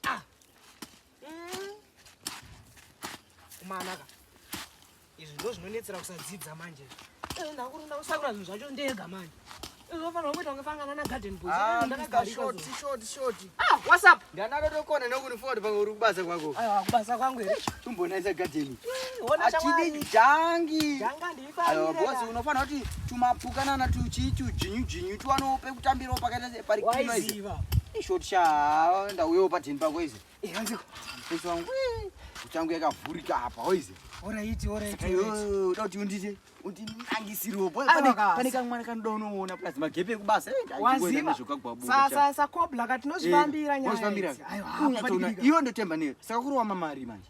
Ah. Mm. Kumanaka. Izvi ndo zvinonetsera kusadzidza manje. Eh, Ndakurunda kusakura zvinhu zvacho ndega manje. Unofanira kuita kunge fangana na garden boy. Ah, Mr. Short, short, short. Ah, what's up? Ndanaka tokona nokuni forward pamwe uri kubasa kwako. Ayo, kubasa kwangu here? Tumbonaisa garden. Achidi jangi. Janga ndi Ayo boss unofanira kuti tumapukana na tuchi tujinyu jinyu twano pekutambira pakaita pari kino izi. Short sha ndauyo patini pako izi. Eh hanzi. Izo wangu. Uchangu yakavhurika apa hoizi. Ora iti ora iti. Ayo uda kuti undite uti nangisiriwo boss. Pane pane kamwe mwana kanoda unoona plus magepe ekubasa. Eh, Waziva. Sa sa sa kobla katinozvambira nyaya. Ayo. Iyo ndotemba neyo. Saka kurowa mamari manje.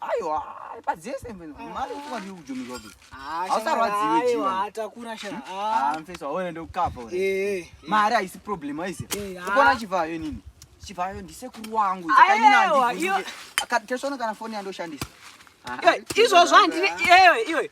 Aiwa, padzese mfethu. Mali kuba ndi ujomiwa bi. Awusarwadziwe jiwa. Aiwa, atakura sha. Ah, mfethu awona ndokukapa uri. Eh. Mari ayisi problem ayise. Ukona chivayo nini? Chivayo ndisekuru wangu. Saka nini andivhunze. Akatesona kana foni yandoshandisa. Izvozvo handine iwe iwe.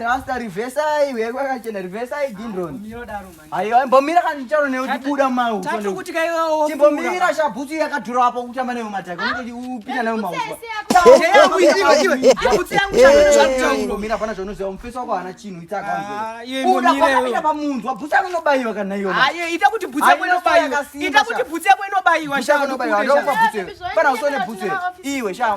rasta rivesai weko akachena rivesai dindron aiwa mbomira kana ndicharo newe tibuda mau timbomira shabhutsu yakadhura wapo kutamba newe mataka unoti upinda nayo maubutsuyakumbomira pana zvaunoziva mufesi wako haana chinhu itsakanzouda kwakapinda pamunzwa bhutsu yako inobaiwa kana iyoita kuti bhutsu yako inobaiwa ita kuti bhutsu yako inobaiwa shaa nobaiwa ndokwa bhutsu pana usone bhutsu iwe shaa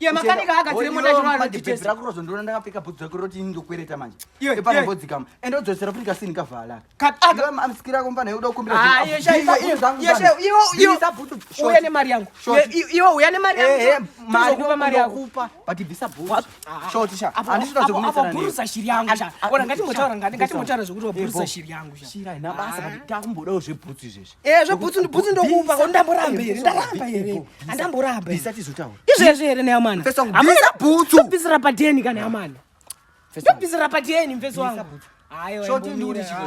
Iye makanika agadzire mota chino anoditesa. Ndakura zvondoona ndakapfeka bhutsu rako roti ndokwereta manje. Epa nambodzika mu. Ende udzosera futi kasini kavala. Kat aga amsikira komba naye uda kukumbira. Ah, iye shaika iye zvangu. Iye shaika iye iye za bhutsu. Uya ne mari yangu. Iye uya ne mari yangu. Eh, mari kupa mari yangu. Kupa but visa bhutsu. Short sha. Andisho zvazo kunetsa nani. Bhutsu shiri yangu sha. Ona ngati motaura ngati ngati motaura zvekuti bhutsu shiri yangu sha. Shira ina basa but takumbodawo zvebhutsu izvezvi. Eh, zvebhutsu ndibhutsu ndokupa ko ndamboramba here ndaramba here andamboramba izvezvi here neyamana amana bhutsu ndobvisira padeni kana yamana ndobvisira padeni mfesi wangu Shoti nduri chikwe.